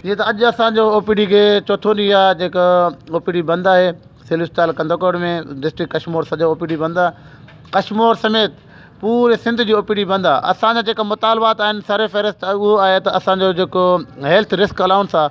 جيئن ته اڄ اسان جو او پي ڊي کي چوٿون ڏينهن آهي جيڪو او پي ڊي بند آهي سول اسپتال ڪنڌڪوٽ ۾ ڊسٽرڪٽ ڪشمور سڄو او پي ڊي بند آهي ڪشمور سميت پوري سنڌ جي او پي ڊي بند آهي اسان جا جيڪا مطالبات آهن سر فهرست اهو آهي ته اسان جو جيڪو هيلٿ رسڪ الائونس آهي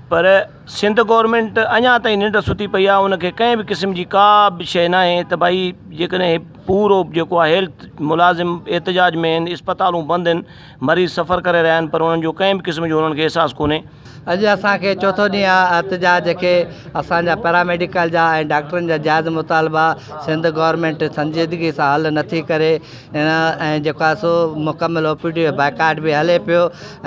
پر سنڌ گورنمينٽ اڃا تائين ننڊ ستي پئي آهي ان کي ڪنهن به قسم جي ڪا به شيء نه آهي ته ڀائي جيڪڏهن پورو جيڪو آهي هيلٿ ملازم احتجاج ۾ آهن اسپتالون بند آهن مريض سفر ڪري رهيا آهن پر انهن جو ڪنهن به قسم جو انهن کي احساس ڪونهي. اڄ اسان کي چوٿون ڏينهن آهي احتجاج کي اسان جا پيراميڊيڪل جا ۽ ڊاڪٽرن جا جائز مطالبا سنڌ گورنمينٽ سنجيدگي سان حل نٿي ڪري هن ۽ جيڪو آهي سو مڪمل او پي ڊي جو بائيڪاٽ به هلي پيو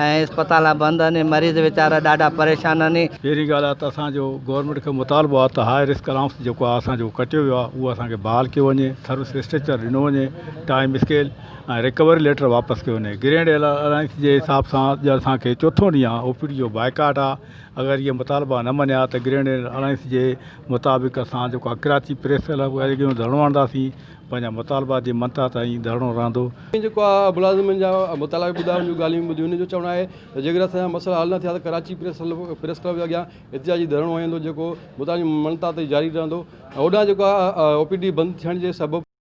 ۽ اسپتالان بند آهن مريض ويچارا ڏاڍا پريشان آهن. پهرين ڳالهه آهي ته اسان جو گورنمينٽ کي مطالبو آهي ته هاء رسڪ الائونس جيڪو آهي اسان جو ڪٽيو ويو آهي اهو اسان کي بحال ڪيو وڃي سروس اسٽريڪچر ڏنو وڃي ٽائيم اسڪيل ۽ رڪوري ليٽر واپس ڪيو وڃي گرينڊ الائونس جي حساب سان اڄ اسان کي چوٿون ڏينهن آهي او پي ڊي جو بائيڪاٽ آهي اگر اهي مطالبا نه مڃيا ته گرينڊ الائونس جي مطابق اسان جيڪو آهي ڪراچي پريس ڪلب اڳيئي ڌرڻو هڻنداسين پنهنجا مطالبات جي منتها تائين ڌرڻو رهندو. ائين جيڪو آء ملازمن جا مطالبا به ٻڌا، انهن جون ڳالهيون به ٻڌيون، انهن جو چوڻ آهي ته جيڪڏهن اسان جا مسئلا حل نه ٿيا ته ڪراچي پريس ڪلب جي اڳيان احتجاجي ڌرڻو هنيندو جيڪو مطالبن جي منتها تائين جاري رهندو ۽ هوڏانهن جيڪو آء او پي ڊي بند ٿيڻ جي سبب